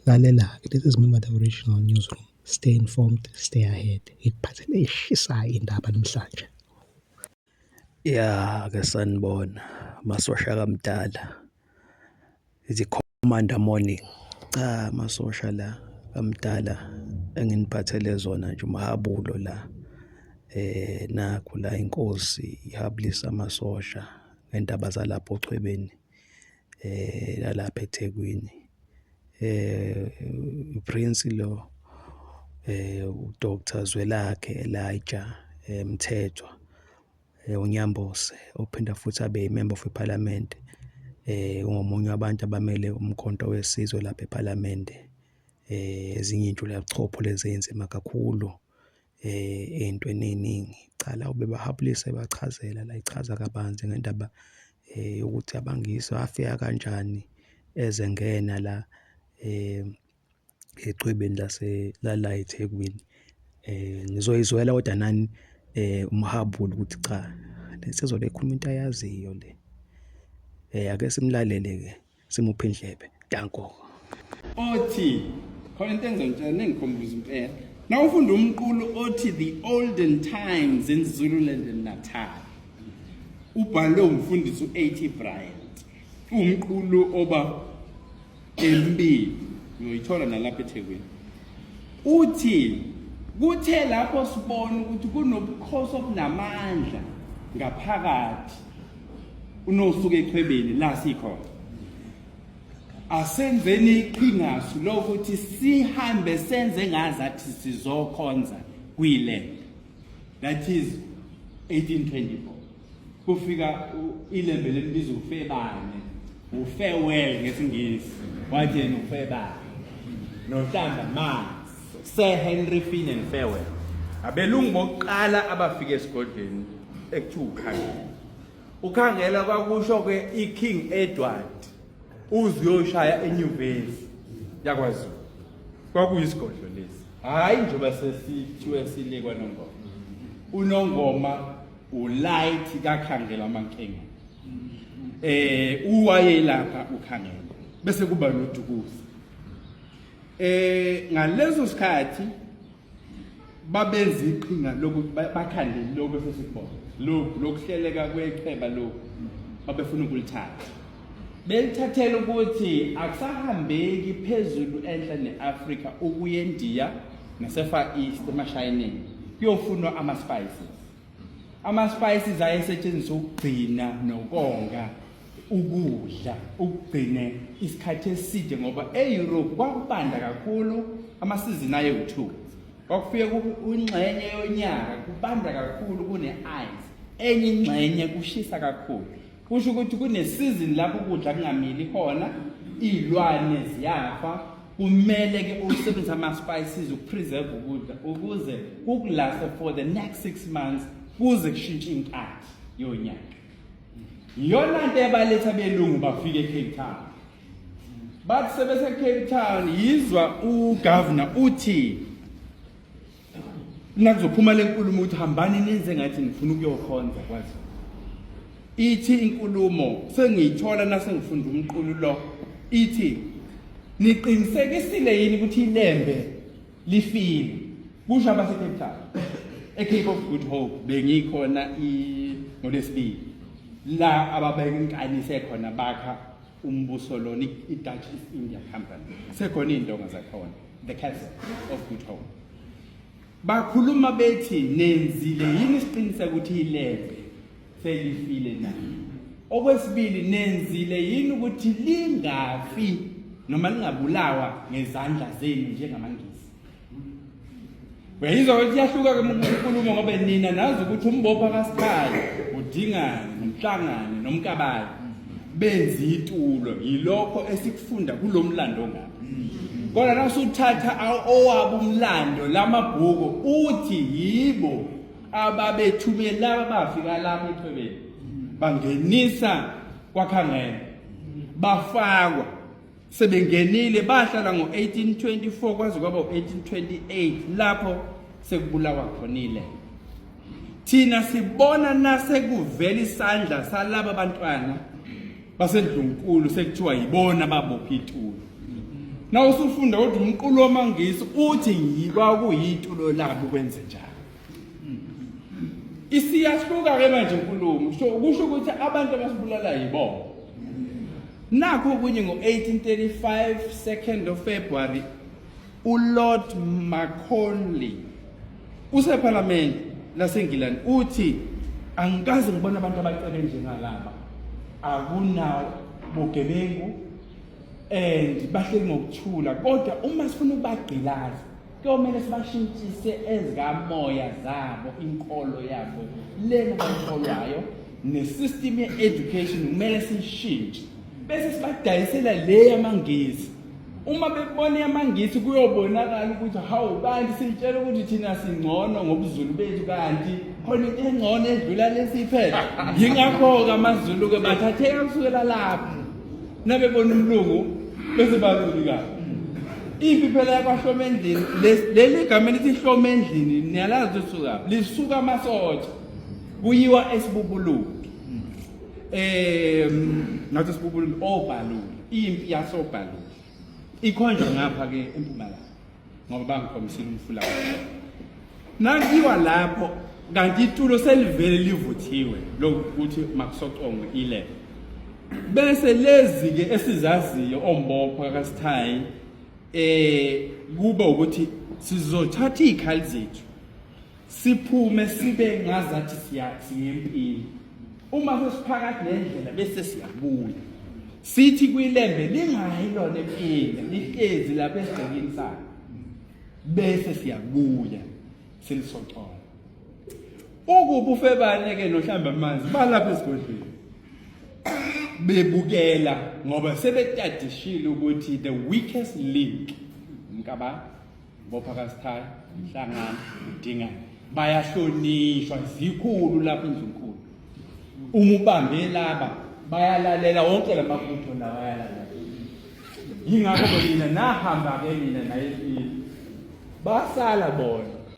Lalela-ke, this is Mnumber The Original Newsroom, stay informed, stay ahead, ngikuphathele eshisayo indaba namhlanje. Ya ke sanibona masosha kamdala ithi commander morning cha masosha la kamdala enginiphathele zona nje umhabulo la eh nakho la inkosi ihabulisa amasosha ngendaba zalapho ochwebeni eh yalapha eThekwini eh uPrince lo eh uDr Zwelakhe Elijah eh, Mthethwa eh, uNyambose ophinda futhi abe imember of parliament eh ungomunye wabantu abamele umkhonto wesizwe lapha eParliament eh ezinye intshulo yachopho lezi enzima kakhulu ey'ntweni ey'ningi. Cha la ubebahambise ebachazela la echaza kabanzi ngendaba yokuthi abaNgisi bafika kanjani eze engena la echwebeni lase lala eThekwini. Nizoyizwela kodwa nani umhambule ukuthi cha le nsizwa le ikhuluma into ayaziyo le. Ake simlalele-ke. simuphi indlebe danko othi khona into engizongitshela nengikhumbuza impela na ufunda umqulu othi the olden times in zululand and natal ubhalwe umfundisi u-at bryant umqulu oba embili uyoyithola nalapha ethekwini uthi kuthe lapho sibona ukuthi kunobukhosi obunamandla ngaphakathi unosuku echwebeni la sikhona asenzeni iqhingasu lokuthi sihambe senze ngazathi sizokhonza kwiland that is 1824 kufika ilembe lembiza ufebane ufewell ngesingisi watheni ufebane nohlamba manzi Sir Henry Finn and Farewell abelungu bokuqala abafika esigodlweni ekuthiwa ukhangela ukhangela kwakusho ke iKing Edward uziyoshaya enyuvesi yakwaZulu kwakuyisigodlo lesi hayi njengoba sesithiwe silekwa nongoma unongoma ulight kakhangela amankinga eh uwayelapha ukhangela bese kuba nodukuza Eh ngaleso sikhathi babenza iqhinga lokuthi bakhande lokho esesikubona lokhu lokuhleleka kwecheba lokhu babefuna ukulithatha belithathela ukuthi akusahambeki phezulu enhla ne-afrika ukuya endiya nasefar east emashayinini kuyofunwa ama-spices ama-spices ayesetshenziswa ukugcina nokonga ukudla ukugcine isikhathi eside ngoba e-europe kwakubanda kakhulu amasizini ayewu-two kwakufike ingxenye yonyaka kubanda kakhulu kune-ice enye ingxenye kushisa kakhulu kusho ukuthi kunesizini lapho ukudla kungamili khona iy'lwane ziyafa kumele ke usebenzise ama-spices ukupreserve ukudla ukuze kukulase for the next six months kuze kushintshe inkathi yonyaka yiyona nto ebaletha belungu bafike ecape town bathi sebesecape town yizwa ugavana uthi nakuzophuma le nkulumo ukuthi hambani nenze ngathi ngifuna ukuyokhonza kwazi ithi inkulumo sengiyithola nasengifunda umqulu lo ithi niqinisekisile yini ukuthi ilembe lifile kusho abaseCape Town eCape of Good Hope bengikhona ngolesibili la ababengikanise khona bakha umbuso lona i-Dutch East India Company sekhona iy'ndonga zakhona the castle of Good Hope bakhuluma bethi nenzile yini isiqiniseko ukuthi ilebe selifile na okwesibili nenzile yini ukuthi lingafi noma lingabulawa ngezandla zenu njengamangisi uyayizwa ukuthi yahluka ke inkulumo ngoba nina nazi ukuthi umbopha kasikhaya udingane nomhlangane nomkabayo benza itulo yilokho esikufunda kulomlando ngapha kodwa nasuthatha owabo umlando lamabhuku uthi yibo ababethumeli laba bafika lapha echwebeni bangenisa kwakhangela bafakwa sebengenile bahlala ngo-1824 kwaze kwaba u-1828 lapho sekubulawa khonile thina sibona nasekuvela isandla salaba bantwana basedlunkulu sekuthiwa yibona babopha itulo na usufunda kodwa umqulu wamangisi uthi yikwa kuyitulo labo kwenze njalo isiyahluka ke manje inkulumo so kusho ukuthi abantu abasibulala yibona nakho kunye ngo-1835 2nd of february ULord McConley usephalamende laseNgilani uthi angikaze ngibona abantu abacebe njengalaba akunawo bugebengu and bahleli ngokuthula kodwa uma sifuna ukubagqilaza kuyomele sibashintshise ezikamoya zabo inkolo yabo lena bayikholwayo ne-system ye-education kumele siyishintshe bese sibadayisela le yamangisi uma bebona yamangisi kuyobonakala ukuthi hawu kanti sitshela ukuthi thina singcono ngobuzulu bethu kanti khona into engcono edlula lesiphela yingakho-ke amazulu-ke bathatheka kusukela lapho nabebona umlungu bese bazulikana impi phela yakwahloma endlini leli gama elithi hloma endlini niyalazi lisuka lisuka amasotsha kuyiwa esibubululu um ngathi esibubululu obhalule impi yasobhalula ikhonjwa ngapha ke empumalanga ngoba bangikhomisile umfula nakiwa lapho kanti itulo selivele livuthiwe lokuthi makusocongwe ile bese lezi ke esizaziyo ombopha kasithayi eh kuba ukuthi sizothatha izikhali zethu siphume sibe ngazathi siyempini uma sesiphakathi nendlela bese siyabuya sithi kwilembe lingayi lona empini lihlezi lapha esigcekeni sakhe bese siyabuya selisoxola ukuba ufebane ke nohlamba amanzi balapha esigodlweni bebukela ngoba sebetadishile ukuthi the weakest link mkabani Bopha kaSithaya, Mhlangana, Mdingane bayahlonishwa zikhulu lapho endlunkulu. Uma ubambe laba bayalalela wonke lamabutho la bayalalela. Yingakho ke nina nahamba ke nina naye basala bona.